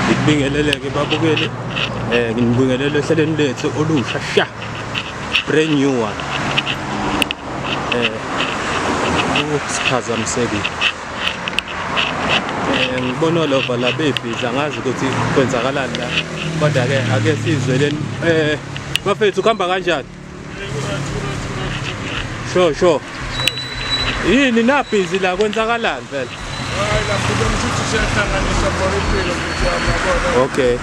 ngibingeleleke babukeli eh nginibingelele ehlelweni lethu olusha sha brand new one eh usiphazamiseki eh, ngibona olova la bebhiza ngazi ukuthi kwenzakalani la kodwa-ke ake sizweleni um eh, bafethu kuhamba kanjani sure sure yini nabhizi la kwenzakalani phela okay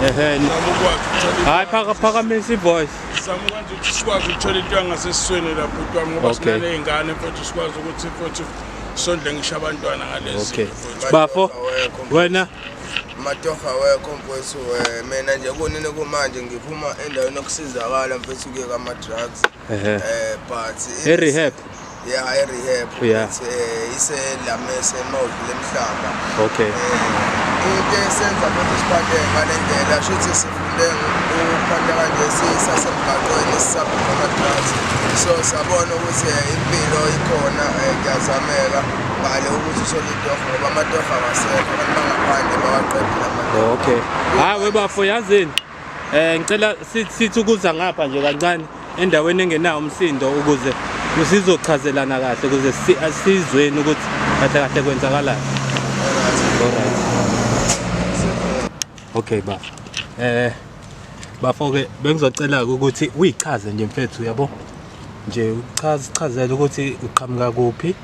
ehe hayi phakamisa ivoice sizama ukwenza ukuthi sikwazi ukuthola into yangasesisweni la bhuti wami ngoba Okay. sinaney'ngane futhi sikwazi ukuthi futhi sondle ngisho abantwana ngalezi Okay. Bafo, wena matofa wekho mfowethu eh, mina nje kunini kumanje ngiphuma endaweni yokusizakala mfowethu kuye kwama-drugs Ehhe. um but E-rehab. ya e-rehab Yeah. It's, eh, iselamese mawudlu lemhlaba Okay. Eh, into esenza ukuthi siphathe ngale ndlela shuthi sifunde ukuphatha kanje sisasemgaqweni sisabheka ama-drugs so sabona ukuthi eh, impilo ikhona eh, kuyazameka ngale ukuthi uthole itoho ngoba amatoho awasekho abantu bangaphandle bawaqedile amatoho Okay. Hayi webafo yazini. Eh ngicela sithi ukuza ngapha nje kancane endaweni engenawo umsindo ukuze sizochazelana kahle ukuze sizweni ukuthi kahle kahle kwenzakalani. Alright. Okay ba. Eh bafo ke bengizocela ukuthi uyichaze nje mfethu yabo. Nje uchaze chazela ukuthi uqhamuka kuphi.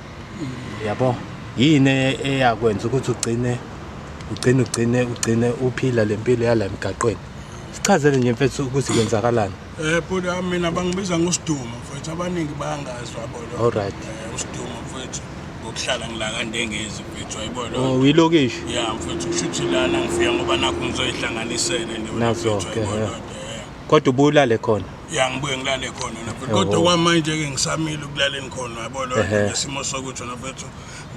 yabo yini e-, eyakwenza ukuthi ugcine ugcine ugcine ugcine uphila le mpilo yala emgaqweni sichazele nje mfethu ukuthi kwenzakalani eh bhuti ah, mina bangibiza ngosidumo mfethu abaningi bayangazi wabona all right eh, usidumo mfethu ngokuhlala ngilaka ndengezi mfethu ayibona oh uyilokishi ya mfethu kushuthi lana ngifika ngoba nakho ngizoyihlanganisele nje nazo ke eh. kodwa ubulale khona ya ngibuye ngilale khona nafethu kodwa okwamanje-ke ngisamile ukulaleni khona yabona ngesimo sokuthi nafethu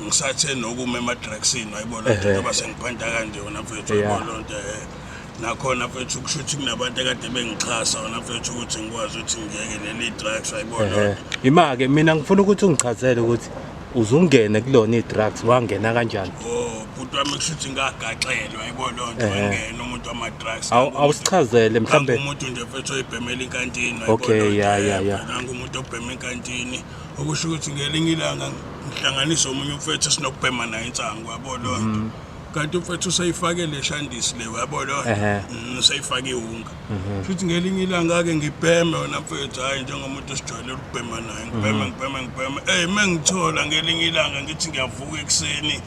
ngisathe nokume emadragsini wayibona nto yoba sengiphanta kanje wona mfethu wayibona loo nto um nakhona mfethu kusho ukuthi kunabantu ekade bengixhasa wona mfethu ukuthi ngikwazi ukuthi ngiyeke leli drugs wayibona loo nto ima-ke mina ngifuna ukuthi ungichazele ukuthi uzungene kulona i-drugs wangena kanjani oh bhuti wami kushuthi ngagaxelwa yebo lo nto wangena umuntu wama-drugs awusichazele mhlawumbe umuntu nje mfethu oyibhemela inkantini okay ya ya ya umuntu obhema inkantini okusho ukuthi ngelinye ilanga ngihlanganise omunye umfethu esinokubhema naye insangu yabo lo nto mm. kanti umfethu useyifake le shandisi le yabo lo nto mm, useyifake iwunga Mhm. Futhi ngelinye ilanga ke ngibheme wena mfethu hayi njengomuntu osijwayele ukubhema naye ngibheme mhm. ngibheme ngibheme ey mengithola ngelinye ilanga ngithi ngiyavuka ekuseni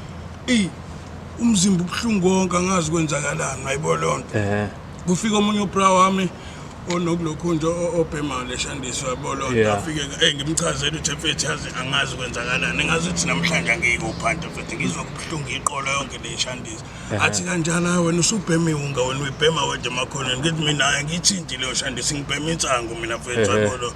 ey umzimba ubuhlungu konke angazi kwenzakalani ayibo leyo nto kufika omunye ubra wami onokulokhu nje obhemayo leshandiswa yabo leyo nto afike ey ngimchazele ukuthi mfethu yazi angazi kwenzakalani engazi ukuthi namhlanje angiyikuphanti mfethu ngizwa kubuhlungu iqolo yonke leyishandisa athi kanjani hayi wena usubhema iwunga wena uyibhema wedwa emakhoneni ngithi mina hayi ngiyithinti leyo shandisi ngibhema insangu mina mfethu yabolo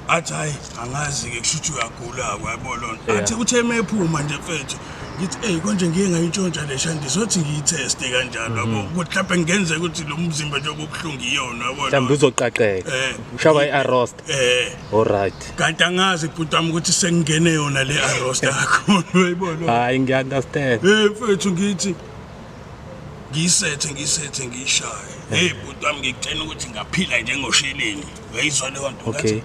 athi hayi angazi-ke kusho ukuthi uyagula-ko yabolo athi kuthe uma ephuma nje mfethu ngithi eyi konje ngiye ngayintshontsha le shandisi othi ngiyitheste kanjalo yabo mhm. ukuthi mhlawumbe kungenzeka ukuthi lo mzimba njengoba ubuhlungu iyona yabolo mhlawumbe uzoqaqeka eh, ushaba i-arost eh alright kanti angazi bhuti wami ukuthi sengingene yona le arrosta kakhulu uyayibona hayi ngiya understand eh mfethu ngithi ngiyisethe ngiyisethe ngiyishaye hey bhuti wami ngikutshena ukuthi ngaphila njengosheleni uyayizwa leyo nto okay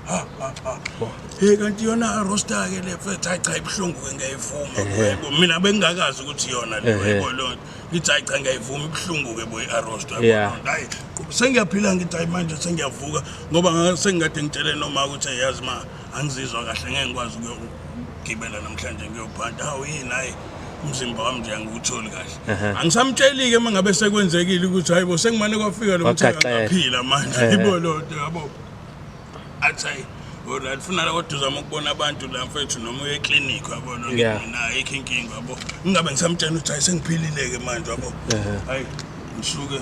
hey kanti yona roster ke le fethu ayi cha ibuhlungu ke ngiyayivuma yebo mina bengingakazi ukuthi yona le yebo leyo ngithi hayi cha ngiyayivuma ibuhlungu-ke boy arostwa Yeah. hayi sengiyaphila ngithi hayi manje sengiyavuka ngoba nga- sengikade ngitshele noma ukuthi "Hey, yazi ma angizizwa kahle ngeke ngikwazi ukuyogibela namhlanje ngiyophanta hawu yini hayi umzimba wami nje angiwutholi kahle Ehhe. angisamtsheli-ke uma ngabe sekwenzekile ukuthi hayi bo sengimane kwafika lo mthaka Wagaxela. ngaphila manje Ehhe. ibo lonto yabo athi hayi wena ndifuna la kodwa uzama ukubona abantu la mfethu noma uye eclinic yabona Yeah. mina ayikho inkinga yabo ngingabe ngisamtshela ukuthi hayi sengiphilile-ke manje yabo Ehhe. hayi ngisuke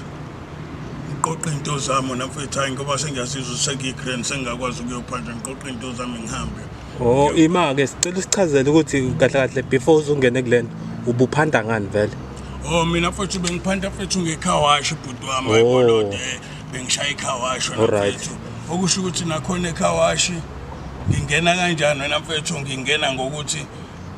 ngiqoqa into zami na mfethu hayi ngoba sengiyasizwa sengiyigrand sengingakwazi ukuyophatha ngiqoqa into zami ngihambe Oh ima-ke sicela usichazele ukuthi kahle kahle before uzungene kulena ubuphanda ngani vele o Oh, mina mfethu bengiphanda mfethu ngekhawashi bhuti wami Oh. ayibona bengishaya ikhawashi wena Alright. mfethu okusho ukuthi nakhona ekhawashi ngingena kanjani wena mfethu ngingena ngokuthi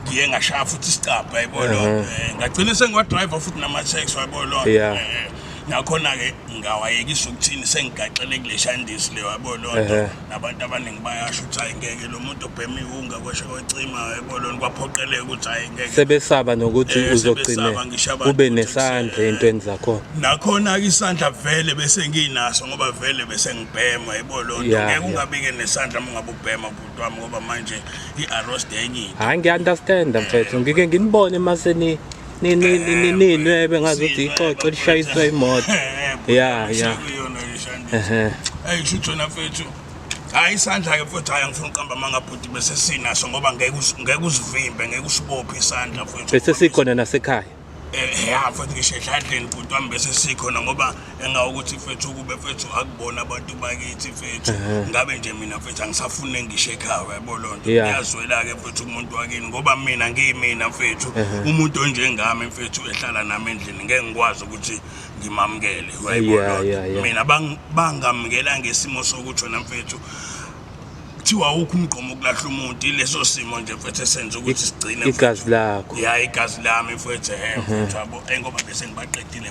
ngiye ngashaya futhi isicabha yabo lo Eh, ngagcina sengiwadriver futhi nama-tax wabo lo Yeah. Eh, nakhona-ke ngawayekisa ukuthini sengigaxele kule shandisi le wabo lo Ehhe. Nabantu abaningi bayasho ukuthi hayi ngeke lo muntu obhema iwunga kweshe kwecima ebolweni kwaphoqeleka ukuthi hayi ngeke sebesaba nokuthi Eh, uzogcine sebesaba ngisho abantu ube ukuthi nesandla kuse- entweni zakhona nakhona-ke isandla vele bese nginaso ngoba vele bese ngibhema yebo lo nto Ya, ngeke ya. ungabike nesandla uma ungabe ubhema bhuti wami ngoba manje i-arost enye into hayi ngiya-understanda mfethu ngike nginibone maseni ninwebe ngazuthi ixoxo lishayiswa imoto ya ya ayishutshona mfethu hayi isandla ke mfethu hayi angifuni uqamba amanga bhuti bese sinaso ngoba ngeke ngeke usivimbe ngeke usibophe isandla mfethu bese sikhona nasekhaya eh ya mfethu ngisho edladleni bhuti wami bese sikhona ngoba engawukuthi mfethu ukube mfethu akubona abantu bakithi mfethu ngabe nje mina mfethu angisafune ngisho ekhaya yabo loo nto Yeah. ngiyazwela-ke mfethu umuntu wakini ngoba mina ngiyimina mfethu umuntu onjengami mfethu ehlala nami endlini ngeke ngikwazi ukuthi ngimamukele wayibona Yeah, loo nto. yeah, yeah. mina bang- bangamukela ngesimo sokuthi wena mfethu kuthiwa wukho umgqomo ukulahla umuntu ileso simo nje mfethu esenza ukuthi sigcine igazi lakho ya igazi lami mfethu he mfethu yabo engoba bese ngibaqedile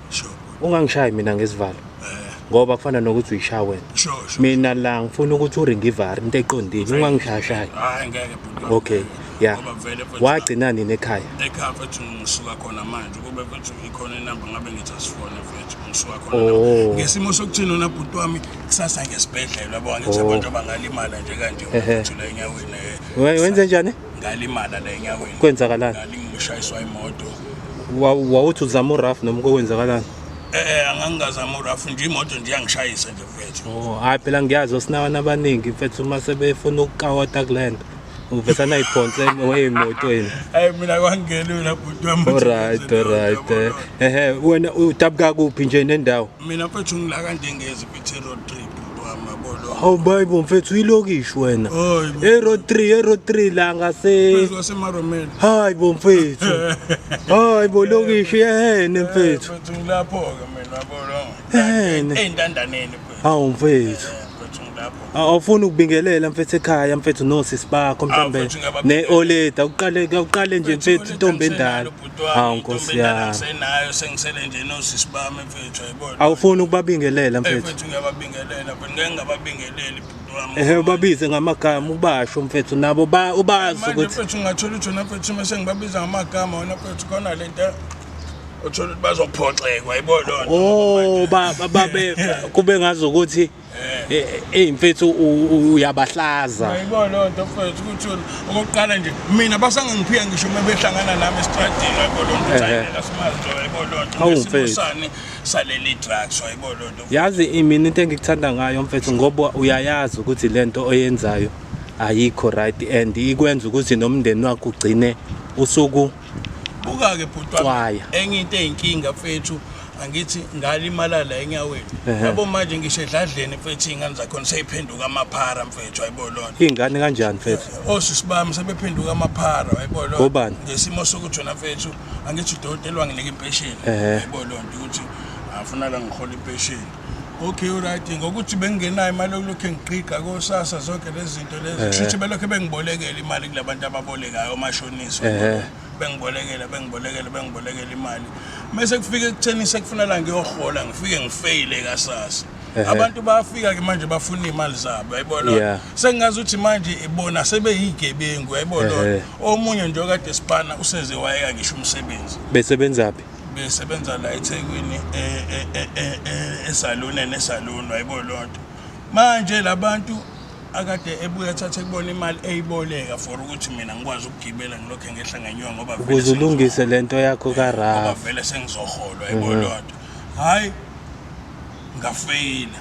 Sure. Ungangishayi mina ngesivalo. Eh. Ngoba kufana nokuthi uyishaye wena. Sure, sure. Mina la ngifuna ukuthi uringivari into eqondile ungangishayashayi. Hayi ngeke bhuti. Okay. Yeah. Ngoba vele mfethu. Wagcina nini ekhaya? Ekhaya mfethu ngisuka khona manje. Kube mfethu ikhona inamba ngabe ngithi asifone mfethu. Ngisuka khona. Oh. Ngesimo sokuthina na bhuti wami kusasa ngesibhedlela yabo angithi abantu abangalimala nje kanje Ehe. mfethu la enyaweni. eh. We- Wenze njani? ngalimala la enyaweni kwenzakalani ngalingishayiswa imoto wawuthi uzama uraf noma kokwenzakalani eh, eh angangazama uraf nje imoto nje yangishayisa nje mfethu oh hayi phela ngiyazi osinawana abaningi mfethu uma sebefuna ukukawota kulento uvesana iphonse weyemotweni hayi mina kwangelula bhuti wami alright alright eh, ehe wena udabuka kuphi nje nendawo mina mfethu ngila kanje ngezi road trip mntwana bolo hawu bayibo mfethu uyilokishi wena e-road tree e-road tree la ngasemaromeni hayi bo mfethu hayi bo lokishi ehene mfethu ngilapho-ke mina bolo ehene ey'ntandaneni hawu mfethu awufuni ukubingelela mfethu ekhaya mfethu nosisi bakho mhlawumbe ne-oleda kuqale nje mfethu intombi endala Hawu, Nkosi yami. Senayo sengisele nje nosisi bami mfethu ayibona. Awufuni ukubabingelela Eh, mfethu. mfethu ngiyababingelela but ngeke ngababingeleli bhuti wami. Ehe ubabize ngamagama ubasho mfethu nabo ba ubazi Manje ukuthi mfethu ngathola ukuthi wena mfethu uma sengibabiza ngamagama wena mfethu khona le nto othola ukuthi bazophoxekwa yibona. Oh ba ba- babe kube ngazokuthi Eh. Eh, eh, eyi mfethu uyabahlaza ayibona loo nto mfethu ukuthi okokuqala nje mina basangangiphiya ngisho uma behlangana nami esitradini wayibo loo nto sayinela simazi wayibo loo nto ngesimosane saleli drugs wayibo loo nto yazi imina into engikuthanda ngayo mfethu ngoba uyayazi ukuthi le nto oyenzayo ayikho right and ikwenza ukuthi nomndeni wakho ugcine usuku buka-ke bhuti wami enye into eyinkinga mfethu angithi ngalimala la enyaweni yabo manje ngisho edladleni mfethu iy'ngane zakhona seyiphenduka amaphara mfethu ayibo lona iy'ngane kanjani mfethu osisi oh, bami sebephenduka amaphara ayibo lona ngesimo sokuthi wena mfethu angithi udokotela wanginika impesheni ayibo lonto ukuthi afuna la ngihola impesheni okay right ngokuthi bengingenayo imali yokulokhu engiqiqa kosasa zonke lezi zinto lezi kusho ukuthi belokhu bengibolekela imali kula bantu ababolekayo omashonisa bengibolekela bengibolekela bengibolekela imali mese kufike ekutheni sekufuna la ngiyohola ngifike ngifeyile kasasa abantu bayafika ke manje bafuna imali zabo yayibona sengazi ukuthi manje ibona sebeyigebengu yayibona omunye nje okade sipana useze wayeka ngisho umsebenzi besebenzaphi besebenza la eThekwini esaluni e, e, e, nesaluni wayibo lonto manje labantu akade ebuya thathe kubona imali eyiboleka for ukuthi mina ngikwazi ukugibela ngilokho engehla ngenyuka ngoba ukuze ulungise lento yakho ka Raf vele sengizoholwa yibo mhm. lonto hayi ngafeyila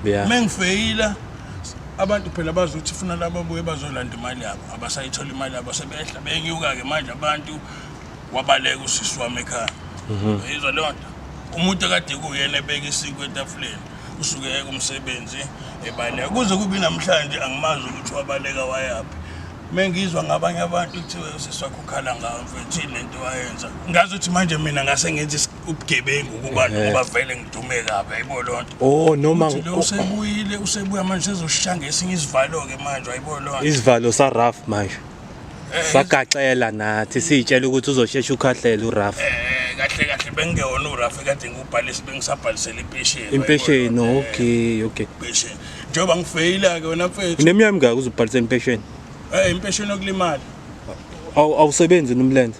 yeah. mengifeyila abantu phela bazi ukuthi funa laba buye bazolanda imali yabo abasayithola imali yabo sebehla benyuka ke manje abantu wabaleka usisi wami ekhaya mhm. yizwa leyo nto umuntu akade kuyena ebeka isiko etafuleni usuke eke umsebenzi ebaleka kuze kubi namhlanje angimazi ukuthi wabaleka wayaphi mengizwa ngabanye abantu kuthiwe usisi wakho ukhala ngawo mfethu yini lento wayenza ngazi ukuthi manje mina ngase ngenza ubugebengu kubantu ngoba vele ngidume kabi ayibo loo nto oh noma lo usebuyile usebuya manje sezoshanga esinye isivalo-ke manje ayibo loo nto isivalo saraf manje sagaxela nathi siyitshela ukuthi uzoshesha ukhahlela uraf eh, kahle kahle bengewona uraf kade ngubhalise bengisabhalisela impesheni impesheni okay okay impesheni njengoba ngifeyila-ke wena mfethu uneminyaka mingaki uzobhalisela impesheni um impesheni yokulimala awusebenzi nomlenze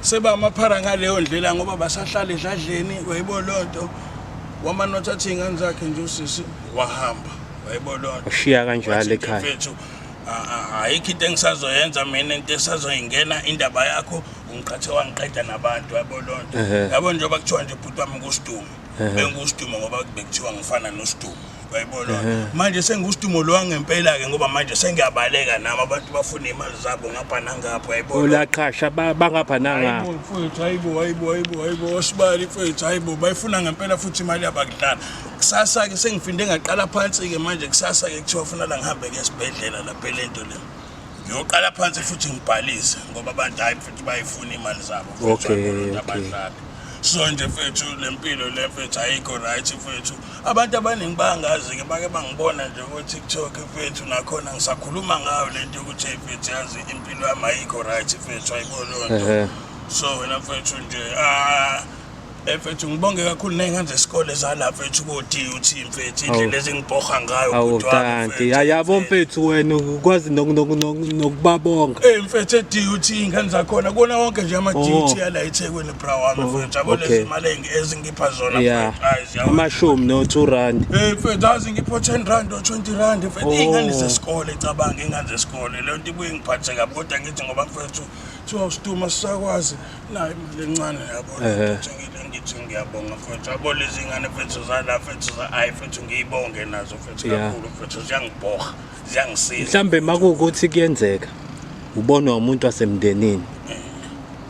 seba amaphara ngaleyo ndlela ngoba basahlale edladleni wayibo loo nto wamane wathi athi iy'ngane zakhe nje usisi wahamba wayibo loo nto ushiya kanjalo ekhaya mfethu ayikho into engisazoyenza mina into esazoyingena indaba yakho ungiqhathe wangiqeda nabantu yabo loo nto yabo njengoba kuthiwa nje bhuti wami kusidumo benguSdumo ngoba bekuthiwa ngifana noSdumo uyayibona manje senguSdumo lo wangempela-ke ngoba manje sengiyabaleka nami abantu bafuna imali zabo ngapha nangapha uyayibona ulaqhasha bangapha nangapha mfowethu hayibo hayibo hayibo hayibo osibali mfowethu hayibo bayifuna ngempela futhi imali yabakudlala kusasa-ke sengifinde ngaqala phansi-ke manje kusasa-ke kuthiwa funa la ngihambe-ke esibhedlela lapha le nto le ngiyoqala phansi futhi ngibhalise ngoba abantu hayi futhi bayifuna imali zabo okay, okay. so nje fethu le mpilo le fethu ayikho right fethu abantu abaningi bangazi-ke bake bangibona nje ko-tiktok fethu nakhona ngisakhuluma ngayo le nto yokuthi hey fethu yazi impilo yami ayikho right fethu ayibononto so wena fethu nje ah Eh, mfethu ngibonge kakhulu ney'ngane zesikole zala mfethu koti uthi mfethu indlela ezingibhoha ngayo awu kanti yabo mfethu wena ukwazi nokubabonga ey eh, mfethu edut iy'ngane zakhona kona wonke nje ama-dut oh. yala ethekwini bra wami oh, mfethu yabo lezi mali ezingipha zona amashumi no-two rand ey eh, mfethu azi ngipho ten rand o-twenty rand mfethu oh. iy'ngane zesikole cabanga iy'ngane zesikole leyo nto ibuye ngiphathe kabi kodwa ngithi ngoba mfethu kuthiwa usituma sisakwazi nayo imali encane yabona Ehhe. ukuthi ngile ngithi ngiyabonga mfethu yabo lezi ngane mfethu zala mfethu za ayi mfethu ngiyibonge nazo mfethu Yeah. kakhulu mfethu ziyangibhoha ziyangisiza mhlambe makuwukuthi kuyenzeka ubonwa umuntu wasemndenini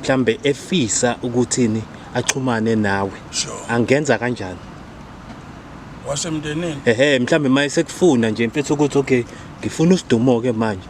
mhlambe efisa ukuthini axhumane nawe Sure. angenza kanjani wasemndenini ehe mhlambe maye sekufuna nje mfethu ukuthi okay ngifuna usidumo-ke manje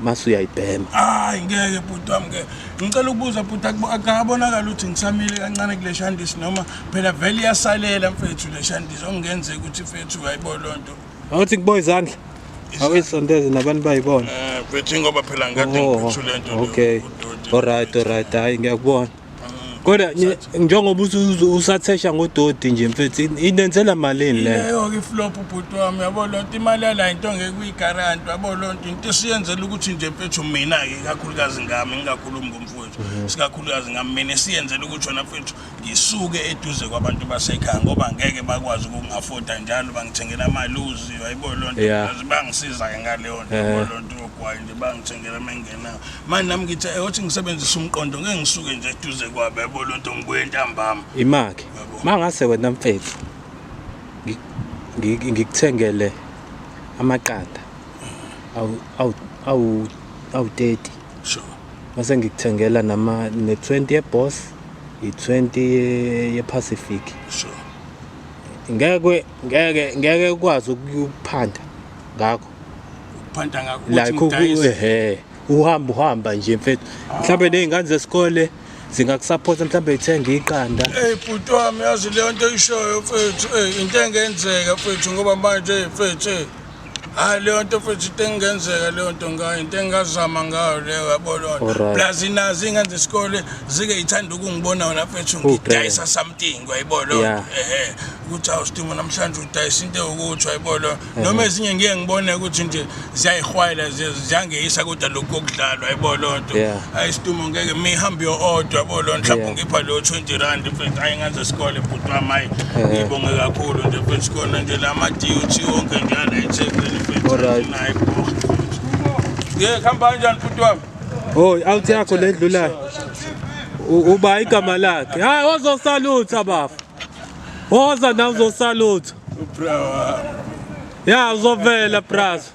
mase uyayibhema hayi ngeke bhuti wami ke ngicela ukubuza bhuti akabonakala ukuthi ngisamile kancane kule shandisi noma phela vele iyasalela mfethu le shandisi okungenzeka ukuthi mfethu uyayibo loo nto awuthi kubo izandla awuyisondeze nabantu bayibona eh, mfethu ingoba phela ngikade oh, ngiphethu le nto okay olright olright hayi ngiyakubona kodwa njengoba usathesha ngododi nje mfethu inenzela malini le leyo-ke iflop ubhuti wami yabo loo nto imali yala into ngeke uyigaranti yabo loo nto into esiyenzela ukuthi nje mfethu mina-ke ikakhulukazi ngami ngingakhulumi ngomfowethu mhm. sikakhulukazi ngami mina esiyenzela ukuthi wena mfethu ngisuke eduze kwabantu basekhaya ngoba ngeke bakwazi ukungafoda njalo bangithengela amaluzi yayiboo loo nto bangisiza-ke ngaleyo nto yabo loo nto yogwayi nje bangithengela menge na manje nami ngithi eyothi eh, ngisebenzisa umqondo ngeke ngisuke nje eduze kwabe yabo lo nto ngibuye entambama imake mangase wena mfethu ngikuthengele amaqanda awu-30 sure mase ngikuthengela nama ne-20 yeboss i-20 yepacific sure ngeke ngeke ngeke ukwazi ukuphanda ngakho ukuphanta ngakho like ukuthi uhamba uhamba nje mfethu mhlawumbe nezingane zesikole zingakusapota mhlawumbe ithenge iqanda eyi bhuti wami yazi leyo nto ishoyo mfethu eyi into engenzeka mfethu ngoba manje eyi mfethu eyi hayi leyo nto mfethu into engenzeka leyo nto ngayo into engingazama ngayo leyo yabo leyo nto plus inazi iy'ngane zesikole zike yithanda ukungibona wona mfethu ngidayisa something wayibo leyo nto ehe ukuthi awusitimo namhlanje udayisa into ewukuthi wayibo leyo noma ezinye ngiye ngibone ukuthi nje ziyayihwayela ziyangeyisa kodwa lokhu kokudlalwa yabo loo nto ayi situmo ngeke mihambe yo-odwa yabo loo nto mhlawumbe ungipha leyo twenty rand mfethu ayi ngenze isikole bhuti wami ayi ngibonge kakhulu nje mfethu sikhona nje la ma-dut wonke njalo ethekwini mfethu naye boha ye kuhamba kanjani bhuti wami hoyi awuthi yakho le ndlulayo uba igama lakhe hayi ozosalutha bafa Oza nawe uzosalutha. Ubrawa. Ya uzovela brazo.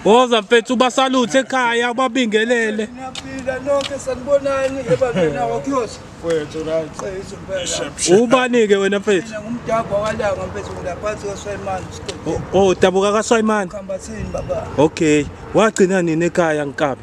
Oza mfethu ubasaluthe ekhaya ubabingelele. Niyaphila nonke sanibonani ebandleni nawo kuyosha. Mfethu right. Ubani ke wena mfethu? Mina ngumdabha walanga mfethu ngilaphansi kwaSwayimani isikole. Oh, dabuka kaSwayimani. Khambathini baba. Okay. Wagcina nini ekhaya nkabi?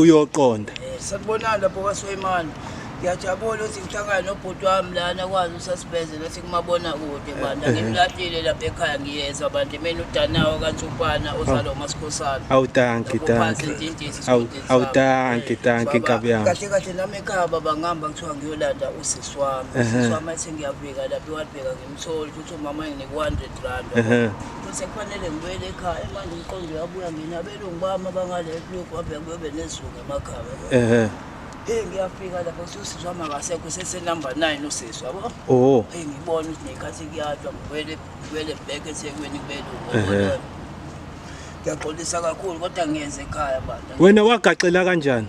uyoqonda eh, sakubonani lapho kwaswemani ngiyajabula ukuthi ngihlangane nobhuti wami lana kwazi usasibeze nathi kumabona kude bandla ngimlahlile lapha ekhaya ngiyezwa bandla mina udanawo kantsupana ozalo masikhosana awutanki tanki awutanki tanki nkabi yami kahle kahle nami ekhaya baba ngihamba kuthiwa ngiyolanda usisi wami usisi wami athi ngiyabika lapha iwalibheka ngimtholi ukuthi umama enginika u-hundred rand futhi sekufanele ngibuyele ekhaya manje umqondo uyabuya mina Abelungu bami abangale ebuyoku babe kube nezulu emakhaya. Ehhe. Hey ngiyafika lapho ukuthi usisi wami akasekho sese number 9 usisi yabo. Oh. Hey ngibona ukuthi nekhathi kuyadwa ngibuyele ngibuyele back eThekwini kubelungu. Ehhe. Ngiyaxolisa kakhulu kodwa ngiyenze ekhaya bantu. Wena wagaxela kanjani?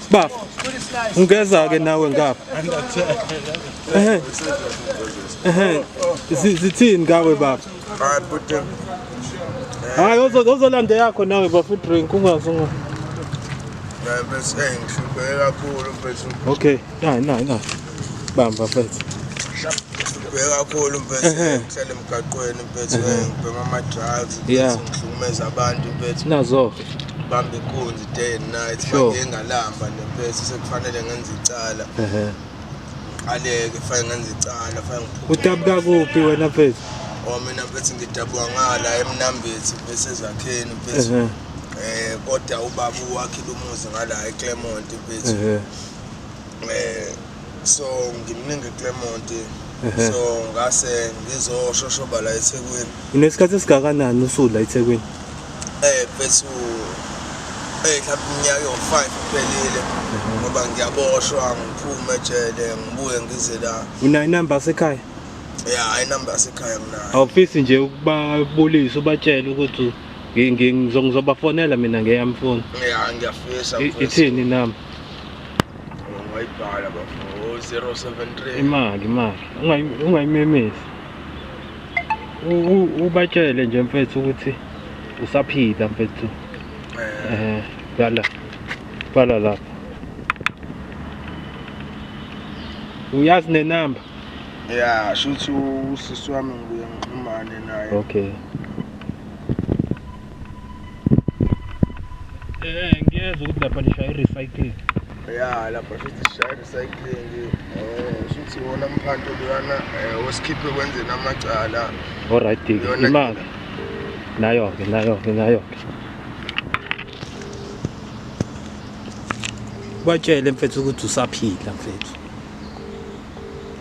Baba, ungeza-ke nawe ngapha. Ehe. Ehe. Zi- Zithini ngawe baba? Hayi bhuti. Hayi ozo- ozolanda yakho nawe bafo drink ungazi unga. Bese ngishubhe kakhulu bese Okay. Nayi nayi nayi. bamba mfethu ngibheke kakhulu mfethu ngihlale emgaqweni mfethu ngibhema ama-drugs ngihlukumeza abantu mfethu nazo bamba inkunzi day and night manje engalamba nemfethu sekufanele ngenze icala aleke fake ngenze icala fake ngiphume udabuka kuphi wena mfethu o oh, mina mfethu ngidabuka ngala emnambethi mfethu ezakheni mfethu eh kodwa ubaba uwakhile umuzi ngala eClermont mfethu Eh, so ngimningi Clement so ngase ngizoshoshoba la eThekwini unesikhathi esingakanani usula eThekwini eh bethu eh mhlawumbe iminyaka yo-5 kuphelile ngoba ngiyaboshwa ngiphume ejele ngibuye ngize la unayo inamba yasekhaya ya inamba yasekhaya nginayo awufisi nje ukubabulisa ubatshele ukuthi ngizobafonela mina ngeyami foni ya ngiyafisa ithini inamba ungayibhala bafo 073 imali imali Ungayi- ungayimemezi U- u- ubatshele nje mfethu ukuthi usaphila mfethu eh eh bhala bhala lapha uyazi nenamba ya shuthi usisi wami ngibuye ngixhumane naye okay Eh, ngiyezwa ukuthi lapha nishaya i-recycling. Ya, lapha shuthi sishaya i-recycling. Eh, shuthi wona mphanto luyana eh osikhiphe kwenzeni amacala. Alright, Diki. Yona- Imali. Nayo-ke, nayo-ke, nayo-ke. Batshele mfethu ukuthi usaphila mfethu.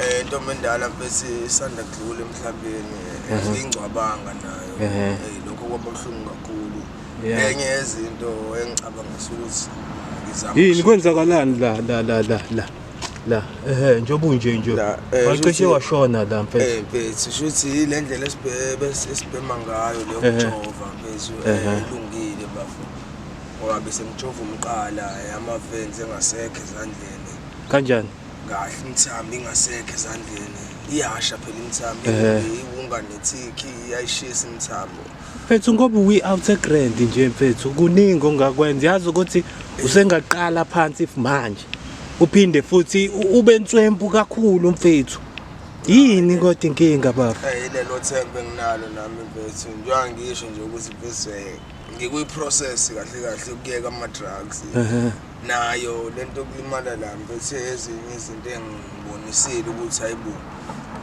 Eh ntombi endala mfesi isanda kudlula emhlabeni mhm. ingcwabanga nayo. Mhm. Eh lokho kwabuhlungu kakhulu. Enye yezinto engicabanga ukuthi ngizama. Yini kwenzakalani la la la la la. la ehe njengoba unje nje eh, wacishe washona la mfethu eh mfethu shuthi ile ndlela esibhebe esibhema ngayo leyo kujova mfethu eh, ilungile bafo ngoba besemjova umqala eh, amavens engasekho ezandleni kanjani kahle imthambi ingasekho ezandleni iyasha phela imthambi iwunga nethikhi iyayishisa imthambo mfethu ngoba uyi out a grand nje mfethu kuningi ongakwenza yazi ukuthi usengaqala phansi if manje uphinde futhi ube nswempu kakhulu mfethu yini kodwa inkinga baba hey lelo thembe nginalo nami mfethu njengoba ngisho nje ukuthi bese ngikuyi process kahle kahle ukuyeka ama drugs nayo lento yokulimala la ngiphethe ezinye izinto engibonisile ukuthi hayibo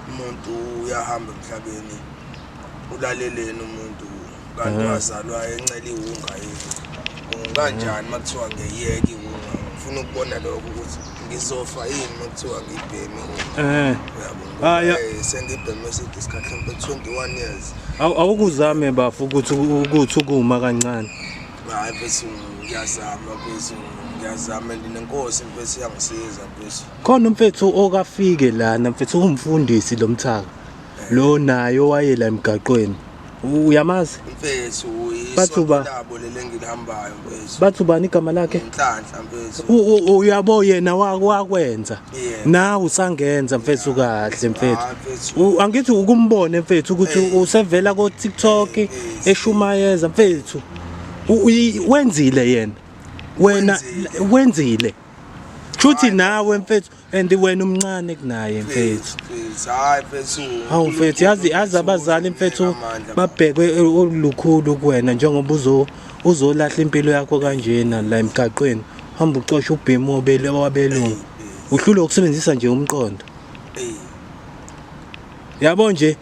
umuntu uyahamba emhlabeni ulaleleni umuntu kanti wazalwa encela iwunga yini unganjani uma kuthiwa ngiyeke iwunga ngifuna ukubona lokho ukuthi ngizofa yini uma kuthiwa ngibheme iwunga uyabo sengibheme eside isikhathi mhlawumbe 21 years awukuzame bafo ukuthi ukuthi ukuma kancane hayi mfethu ngiyazama mfethu ngiyazama and nenkosi mfethu iyangisiza mfethu khona umfethu okafike lana mfethu ungumfundisi lo mthaka lo naye owayela emgaqweni uyamazi mfethu bathi uba labo lele ngilihambayo mfethu bathi ubani igama lakhe inhlanhla mfethu uyabo yena wakwenza nawe usangenza mfethu kahle mfethu ah, angithi ukumbone mfethu ukuthi usevela ko TikTok eshumayeza mfethu wenzile yena wena wenzile Chuthi nawe mfethu and wena umncane kunaye mfethu. Hayi mfethu. Hawu mfethu yazi yazi abazali mfethu babhekwe olukhulu kuwena njengoba uzo uzolahla impilo yakho kanjena la emgaqweni hamba ucosha ubhemu obele wabelungu uhlulwe ukusebenzisa nje umqondo yabo nje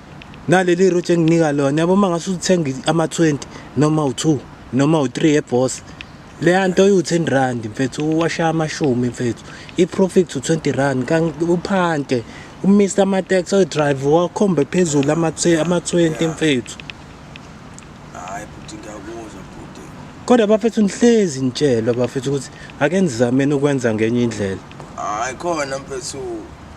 naleli route enginika lona yabo mangase uthenga ama 20 noma u2 noma u3 eboss leya nto uyu-10 rand mfethu uwashaya amashumi mfethu i-profit u-20 rand uphante umisa ama-tax oyi-drive wakhombe phezulu ama-20 mfethu hayi bhuti ngiyakuzwa bhuti kodwa bafethu nihlezi nitshelwa bafethu ukuthi ake nizameni ukwenza ngenye indlela hayi khona mfethu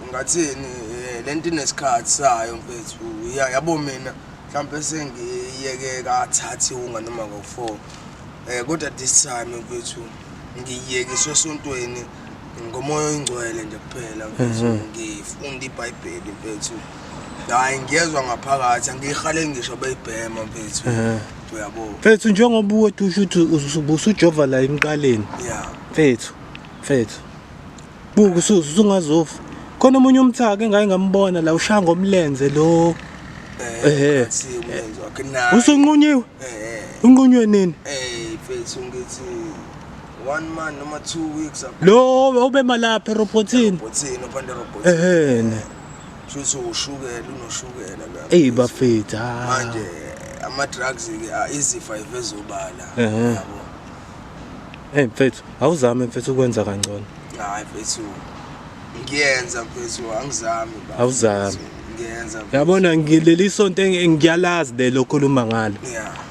ungathini eh, le nto inesikhathi sayo mfethu Ya- yabo mina mhlawumpe sengiyeke kathathi unga noma ngo-four um kodwa this time mfethu ngiyiyekiswe esontweni ngomoya oyingcwele nje kuphela mfethu mhm. ngifunda ibhayibheli mfethu hayi ngiyezwa ngaphakathi angiyihaleli ngisho beyibhema mfethu mhm. uyabo mfethu njengoba uwethu usho ukuthi ubusujova la emqaleni ya mfethu mfethu buka usuze usungazofa khona omunye umthaka engaye ngambona la ushaya ngomlenze lo ehe eh, eh. usunqunyiwe eh, unqunywe nini eh mfethu ngithi one month noma two weeks ago lo ubemalapha erobothini erobothini ophanda erobothini ehene shuthi ushukela unoshukela la eyi bafethu ah. manje ama drugs ke ah, izifa ivezobala yabo hey mfethu awuzame mfethu ukwenza kangcono hayi mfethu ngiyenza mfethu angizami ba awuzami ngiyenza yabona ngileli sonto engiyalazi lelo khuluma ngalo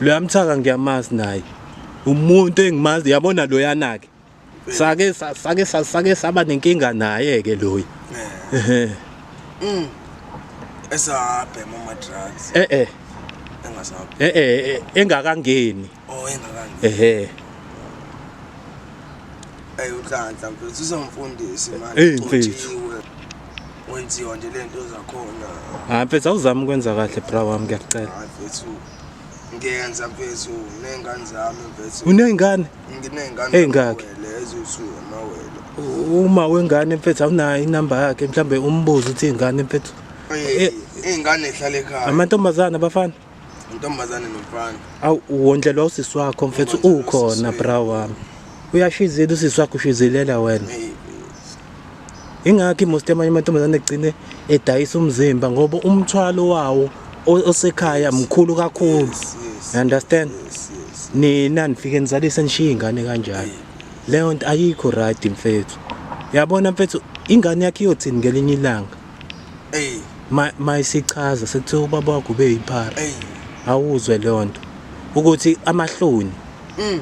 loyamthaka ngiyamazi naye umuntu engimazi yabona loyana ke sake sa- sake sa- sake saba nenkinga naye ke loyi ehe Mm. Esabhema ama drugs eh eh engasabhe. eh eh eh, engakangeni Oh engakangi. ehe Ey ukanhla mfethu uzongifundisa imali. Ey, mfethu. Ugcotshiwe. Wenziwa nje lento zakhona. hayi mfethu awuzami ukwenza kahle bra wami ngiyacela Hayi mfethu ngiyenza mfethu ney'ngane zami mfethu uney'ngane nginey'ngane ey'ngaki eziwu-two amawele uma wengane mfethu awunayo inamba yakhe mhlawumbe umbuze ukuthi iy'ngane mfethu eh, iy'ngane zihlala ekhaya amantombazane abafana intombazane nomfana awu wondlelwa usisi wakho mfethu ukhona bra wami uyashizela usisi wakho ushizelela wena ingakho imost amanye amantombazane egcine edayisa umzimba ngoba umthwalo wawo osekhaya mkhulu kakhulu you understand nina nifike nizalise nishiye ingane kanjani leyo nto ayikho right mfethu yabona mfethu ingane yakhe iyothini ngelinye ilanga hey mayisichaza sekuthiwa ubaba wakho ube yiphara awuzwe leyo nto ukuthi amahloni mm.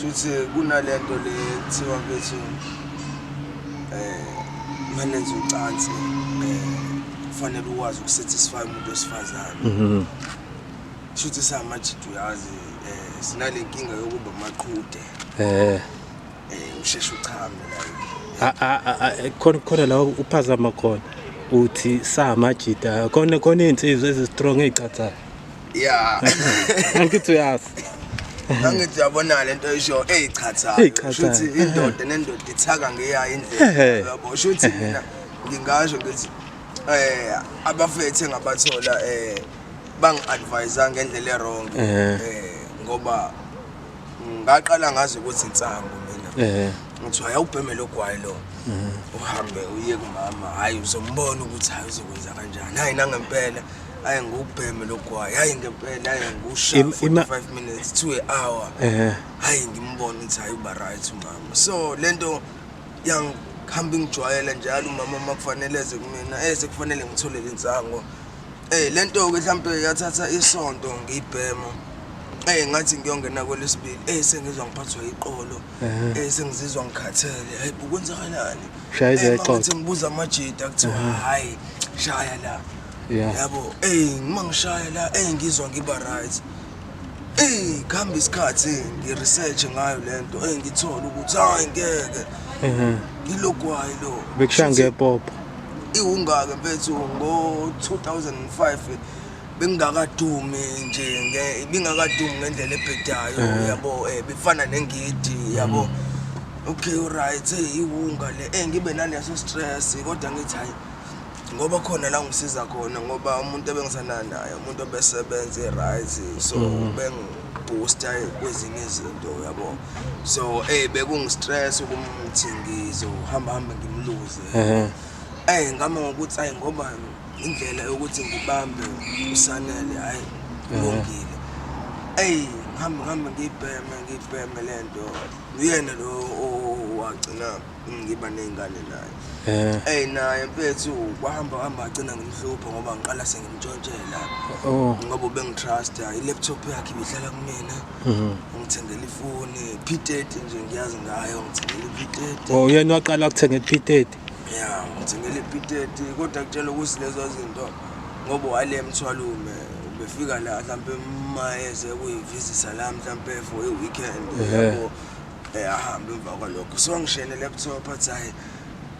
Shuthi kunalento le kuthiwa kwethu eh manenze ucansi eh kufanele ukwazi ukusatisfy umuntu osifazane. Mhm. Shuthi samajidi uyazi eh sinale nkinga yokuba maqhude. Eh eh usheshe uchame la. A a a khona khona la uphazama khona. uthi samajita khona khona izinsizwa ezistrong ezicathayo ya angithi uyazi angithi uyabona le nto isho eyichathayoushuthi indoda nendoda ithaka ngeyayo indlela yabo shuthi mina ngingasho ngithi um abafethe ngabathola um bangi-advisa ngendlela erong um eh, ngoba ngaqala ngazi ukuthi insangu mina ngithiwa yawubhemele ogwayi lo uhambe uye kumama hhayi uzombona ukuthi hhayi uzokwenza kanjani hhayi nangempela ayi ngubheme logwayi hayi ngempela ayi ngusha 45 minutes to an hour ehe hayi ngimbona ukuthi hayi uba right umama so lento yang hamba ngijwayela njalo umama makufanele eze kumina eze kufanele ngitholele insango eh lento ke mhlambe yathatha isonto ngiyibhema eh ngathi ngiyongena kwelesibili eh sengizwa ngiphathwa iqolo Eh sengizizwa ngikhathele. Hey bukwenzakalani? Shaya izexoxo. Ngathi ngibuza amajita kuthiwa hayi shaya la. Yeah. Yabo, hey ngima ngishaya la, hey ngizwa ngiba right. Hey khamba isikhathi ngi research ngayo lento, hey ngithola ukuthi hayi ngeke. Mhm. Ngilogwayi lo. Bekushaya ngepopo. Iwungaka mfethu ngo 2005 bengingakadumi nje ibingakadumi ngendlela ebhedayo eh. yabo um bifana nengidi yabo mm. okay right hey iwunga le eh ngibe naleso stress kodwa ngithi hayi ngoba khona la ngisiza khona ngoba umuntu ebengisana naye umuntu obesebenze right so mm. beng boost kwezinye izinto yabo so eh bekungistress ukumthingizo uhamba hamba ngimluze eh ngama ngokuthi ayi ngoba indlela yokuthi ngibambe usanele hayi kulungile eyi ngihambe ngihambe ngiyibheme ngiyibheme le nto uyena lo wagcina ngiba ney'ngane naye eyi naye mfethu kwahamba hamba agcina ngimhlupha ngoba ngiqala sengimtshontshela oh. ngoba ubengitrusta i-laptop yakhe ibihlala kumina mhm. ngithengela ifoni p thirty nje ngiyazi ngayo ngithengela i-p thirty oh, uyena waqala kuthenge i-p thirty ya ngithengele ipiteti kodwa kutshela ukuthi lezo zinto ngoba wale mthwalume ubefika la mhlawumpe mayeze kuyimvizisa la mhlawumpe for i-weekend yabo eh, ahambe emva kwalokho so ngishene laptop athi hayi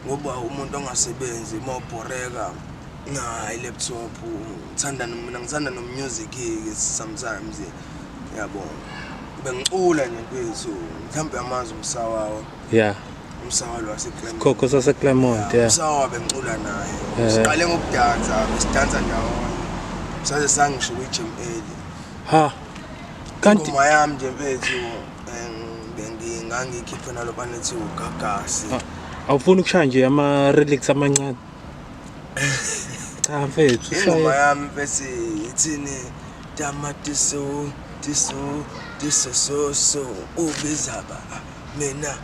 ngoba umuntu ongasebenzi uma ubhoreka nayi laptop ngithanda mina ngithanda nomusic ke sometimes yabo bengicula nje mfethu mhlawumbe amazi umsawawo yeah umsawa lo waseClermont khokho saseClermont yeah umsawa bengicula naye eh. siqale ngokudansa sidansa ndawonye saze sangisho kwi-gym eli ha kanti ingoma yami nje mfethu bengingangikhiphe nalo banethi ugagasi awufuni ukushaya nje ama-relics amancane cha mfethu ingoma yami bese ithini tamatiso tiso tiso so so ubizaba mina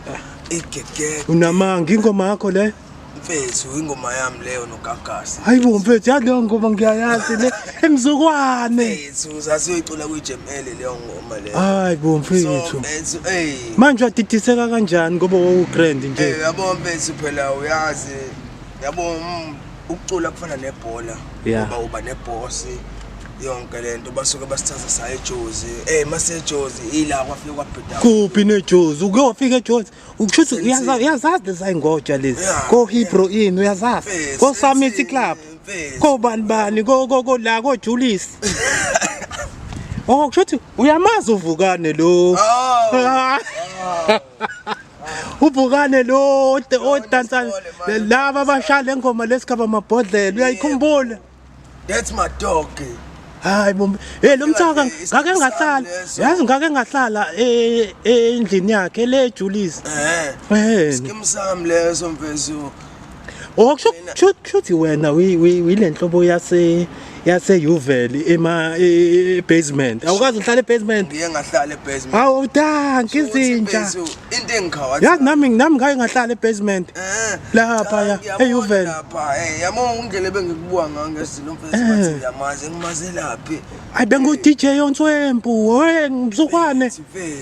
igegede unamanga ingoma yakho le mfethu ingoma yami leyo nogagasi hayi bo mfethu yaleyo ngoma ngiyayazi le emzukwane mfethu sasiyoyicula kwi-jml leyo ngoma leyo hayi bo mfethu mfethu ey manje wadidiseka kanjani ngoba wawugrand nje yabo mfethu phela uyazi yabo mm, ukucula kufana nebhola Yeah. ngoba uba nebhosi yonke le nto basuke basithatha saye ejozi ey masejozi ila kwafike kwabhida kuphi nejozi uke wafika ejozi ukusho ukuthi Sensei. uyaza- uyazazi lezayingoja lezi Yeah. kohebro in uyazazi Mfezi, kosamisi Sensei, club mfezi. kobani bani ko- ko- ko- la kojulisi Oh, o kusho ukuthi uyamazi uvukane lo Oh. ubhukane lo odansa laba abashaya le ngoma lesikhaba amabhodlela uyayikhumbula that's my dog hayi bombe hey lo mthaka ngake ngahlala yazi ngake ngahlala e, e, endlini yakhe le Julies eh eh skim sam leso mfezo Oh kusho ukuthi wena uyile nhlobo yase yase Uvel ema e, e, e, basement. Awukazi uhlala ebasement. Ngiye ngahlala ebasement. Awu thank izinja. Into engikhawa. Yazi nami nami ngake ngahlala ebasement. Eh. Lapha ya eUvel. Lapha eh yamo ungele bengikubuka ngange silo mfethu eh. bathi ngiyamazi ngimazelaphi. Ay bengu DJ Onswempu, hey mzukwane.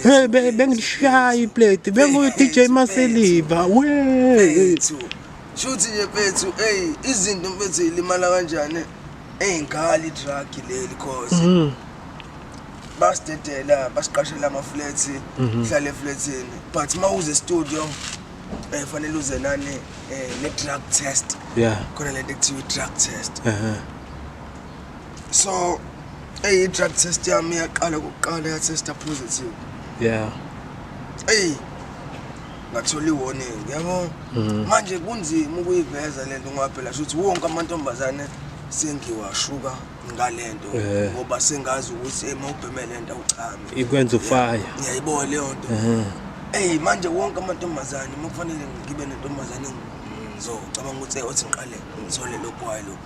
Hey, be, bengilishaya iplate bengu-dj maseliva we Mfethu. Shuthi nje mfethu, hey, izinto mfethu ilimala kanjani? Hey, ngali drug leli cause. Mm. Basidedela, basiqashela ama flats, Mhm. hlale flatsini. But mawuze studio, eh fanele uze nani eh ne drug test. Yeah. Khona lento ekuthiwa drug test. Uh-huh. so eyi drug test yami yaqala kuqala ya testa positive yeah eyi ngathola i-warning yabo mhm. manje kunzima ukuyiveza le nto ngoba phela shuthi wonke amantombazane sengiwashuka ngale nto eh. ngoba sengazi ukuthi ema ubheme le nto awuchame ikwenza ufaya ngiyayibona leyo nto mhm. eyi manje wonke amantombazane uma kufanele ngibe nentombazane ngizocabanga ukuthi othi ngiqale ngithole lokwayo lokhu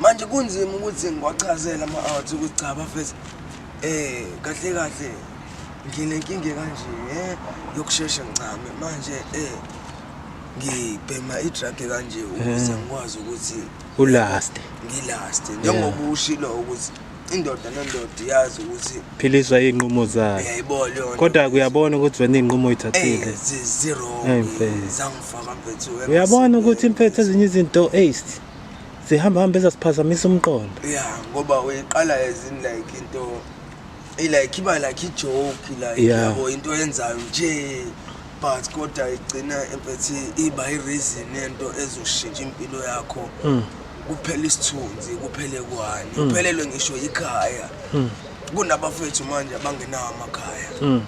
manje kunzima ukuthi ngiwachazela ama-out ukuthi cha bafethu eh kahle kahle nginenkinga ekanje eh yokusheshe ngichame manje eh ngibhema i-drug kanje ukuze eh. ngikwazi ukuthi ulast ngilast njengoba ushilo ukuthi indoda nendoda iyazi ukuthi philiswa iy'nqumo zayo yayibo leyona kodwa kuyabona ukuthi wena iy'nqumo oyithathile eh, zero zangifaka mfethu uyabona ukuthi imphetho ezinye izinto ace zihamba hamba ezasiphazamisa umqondo ya ngoba uyiqala as in like into ilike iba like ijoke like Yeah. yabo into yenzayo nje but kodwa igcina emphethi iba ireason yento ezoshintsha impilo yakho Mm. kuphela isithunzi kuphele kwani Mm. uphelelwe ngisho yikhaya Mm. kunabafethu manje abangenawo amakhaya Mm.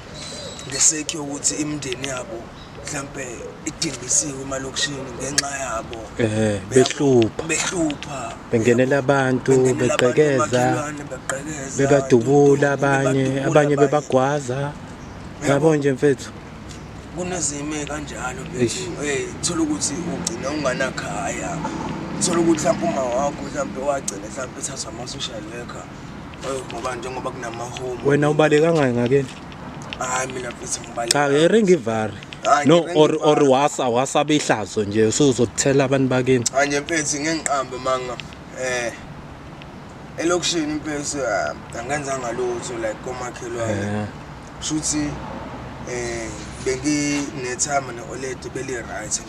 ngesake yokuthi imindeni yabo mhlampe idingisiwe emalokishini ngenxa yabo eh behlupha behlupha bengenela abantu beqhekeza bebadubula abanye abanye bebagwaza yabo nje mfethu kunezime kanjalo mfethu eh thola ukuthi ugcina unganakhaya thola ukuthi mhlawumbe uma wakho mhlawumbe wagcina mhlawumbe ethathwa ama social worker ngoba njengoba kunamahome wena ubaleka ngayo ngakeni hayi mina futhi ngibaleka cha ke ring ivari no or or wasa wasa behlazo nje usuzothela abantu bakini hayi nje mfethu ngengiqambe manga eh elokishini mfethu ah, angenzanga lutho like komakhelwane yeah. Shuthi eh benginethama ne-oledi beli-right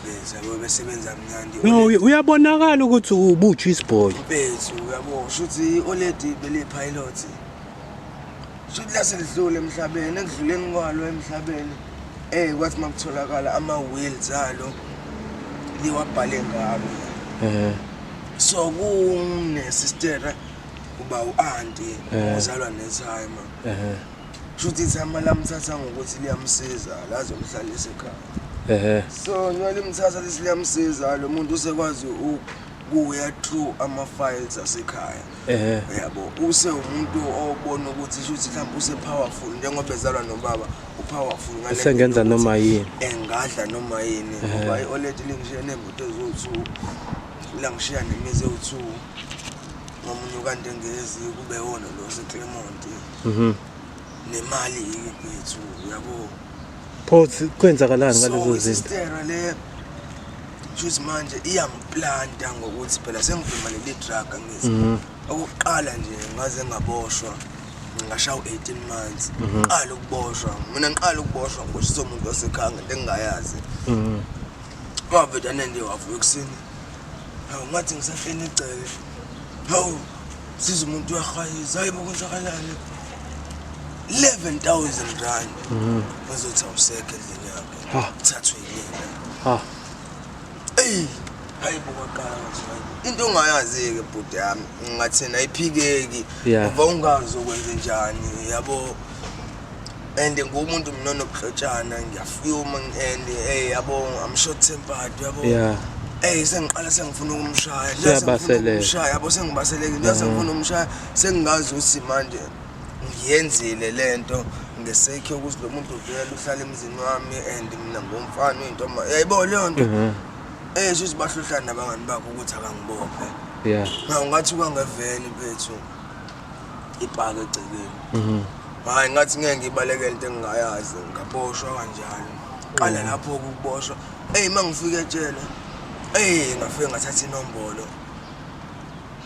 beza besebenza mnandi no uyabonakala ukuthi ubuthu isibhoyi bethu uyabo shuthi i-oledi beli-pilot shuthi laselidlule emhlabeni ekudluleni kwalo emhlabeni eh kwathi makutholakala ama-wheels alo liwabhale ngalo eh so kunesistera uba u-anti ozalwa nethayima ehe shuthi ithama lamthatha ngokuthi liyamsiza lazomhlalisa ekhaya ehe so njengoba limthatha lesi liyamsiza lo muntu usekwazi ukuya through ama-files asekhaya ehe yabo use umuntu obona ukuthi shuthi mhlawumbe use-powerful njengoba ezalwa nobaba u-powerful ngale Usengenza ndlela noma yokuthi yini. engadla noma yini ngoba i-oledi lingishiya neemoto eziwu-two langishiya nemizi ewu-two ngomunye ukaNdengezi kube wona lo seClermont mhm nemali yethu yabo pho kwenzakalani ngalezo zinto le juice manje iyamplanta ngokuthi phela sengivuma leli drug ngithi mhm. okuqala nje ngaze ngaboshwa ngashaya u-18 months mhm. qala ukuboshwa mina ngiqala ukuboshwa ngiboshiswa umuntu wasekhaya ngento engingayazi mhm. waveda nende wavuka ekuseni Hawu ngathi ngisafeni igceke. Hawu siza umuntu uyahwayiza hayibo kwenzakalani. 11,000 rand. Mhm. Uzothi awusekho endlini yakhe. Ha. Thathwe yini? Ha. Ey, hayibo kwaqala nje. Into ongayazi-ke bhuti yami ngathina iphikeki Yeah. ngoba ungazi ukwenze njani yabo and ngumuntu mina onobuhlotshana ngiyafuma and hey yabo i'm short tempered yabo yeah Ey sengiqala sengifuna ukumshaya. Siyabaselela. Umshaya yabo sengibaseleke. Ngiyazi sengifuna umshaya sengingazi uthi manje ngiyenzile lento ngesekhe ukuthi lo muntu uvela uhlala emzini wami and mina ngomfana uyintomba. Yayibo leyo nto. Mhm. Eh sisi bahluhlana nabangani bakho ukuthi akangibophe. Yeah. Ngawu ngathi kwangeveni bethu. ipaka egcekeni mhm. hayi ngathi ngeke ngibalekele into engingayazi ngaboshwa kanjalo qala mhm. lapho ukuboshwa eyi uma ngifike etshela eyi ngafike ngathatha inombolo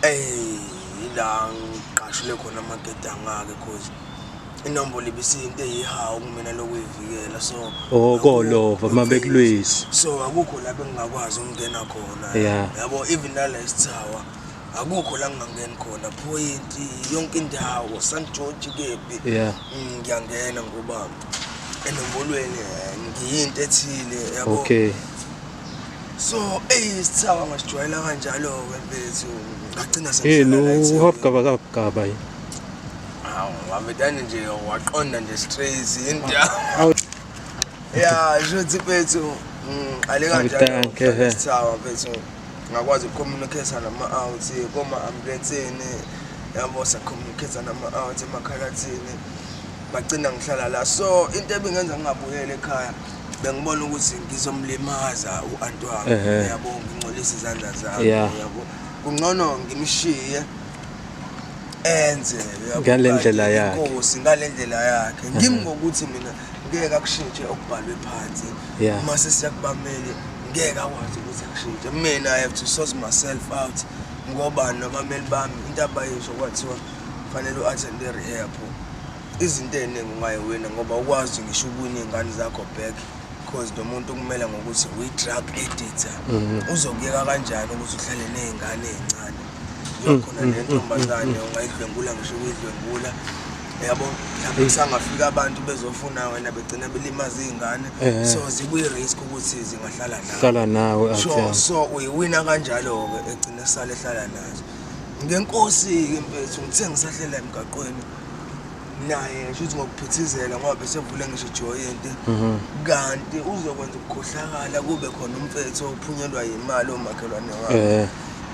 eyi yila ngiqashule khona amagede angake cause inombolo ibisiyinto eyihawu kumina lokuyivikela so okolova oh, uma bekulwisa so akukho lapho engingakwazi ukungena khona yabo even nalesithawa akukho la ngingangeni khona point yonke indawo st george kephi yeah. Mm, ngiyangena ngoba enombolweni eh, ngiyinto ethile yabo okay so eyi sithaba ngasijwayela kanjalo-ke mfethu ngagcina seuhabgabakabgaba yini awu wabetane nje waqonda nje straight indawo ya shuthi bethu ngiqale mm, kanjalosawa bethu ngakwazi ukucommunicata nama-out koma-ambulensini yabo sacommunicata nama-out emakhalathini bagcina ngihlala la so into ebingenza ngingabuyeli ekhaya bengibona ukuthi ngizomlimaza u-anti wami yabo ngingcolisa izandla zami yabo kungcono ngimshiye enze ngale ndlela yakhe inkosi ngale ndlela yakhe ngimi ngokuthi mina ngeke akushintshe okubhalwe phansi uma sesiyakubamele ngeke akwazi ukuthi akushintshe mina i have to source myself out ngoba nabameli bami into abayisho kwathiwa kufanele u-attend i-rehab izinto ey'ningi ungayiwina ngoba ukwazi ngisho ukuwina iy'ngane zakho back because lo muntu kumele ngokuthi uyi-drug editor mhm. uzokuyeka kanjani ukuthi uhlale ney'ngane ey'ncane uyakhona nentombazane ungayidlwengula ngisho ukuyidlwengula yabo mhlawumbe kusangafika abantu bezofuna wena begcina belimaza iy'ngane Ehhe. so zikwi-risk ukuthi zingahlala nawe hlala nawe so athi so uyiwina kanjalo-ke egcine sale ehlala nazo ngenkosi-ke mfethu ngithe ngisahlela emgaqweni naye ngisho ukuthi ngokuphithizela ngoba besevule ngisho ijoyinti mhm. kanti uzokwenza ukukhohlakala kube khona umfethu ophunyelwa yimali omakhelwane wakhe eh.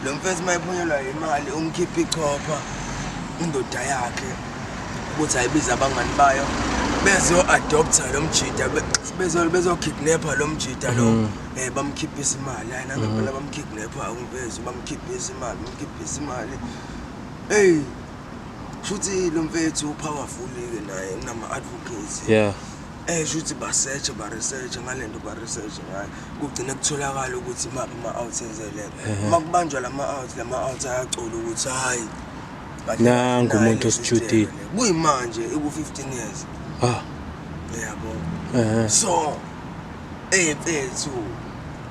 lo mfethu uma ephunyelwa yimali umkhipha ichopha indoda yakhe ukuthi ayibize abangani bayo bezo-adoptha lo mjida bezokidnapha lo mjida lo um bamkhiphisa imali hayi nangempela mhm. bamkidnapha umvezu bamkhiphisa imali bamkhiphisa imali eyi shuthi lo mfethu upowerful-ke naye unama-advocates yeah eh shuthi basearch baresearch ngalento baresearch ngayo kugcine kutholakala ukuthi imaphi ama-out enzeleka uma kubanjwa la ma-out la ma-out ayacula ukuthi hhayi nangu umuntu osijudile kuyimanje iku-15 years ah yabo so ey mfethu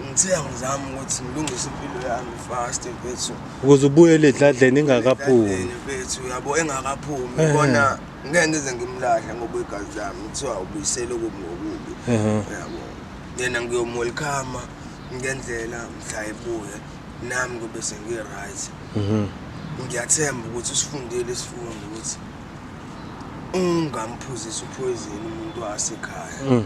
ngithe angizami ukuthi ngilungise impilo yami fast mfethu ukuze ubuyele edladleni ingakaphumi bethu uyabo engakaphumi ubona ngeke ngize ngimlahle ngoba igazi lami kuthiwa ubuyisele okubi ngokubi uyabo yena ngiyomwelcome ngendlela mhla ebuye nami kube sengi-right mhm. ngiyathemba ukuthi usifundile isifundo ukuthi ungamphuzisi uphoyizini umuntu wasekhaya mm.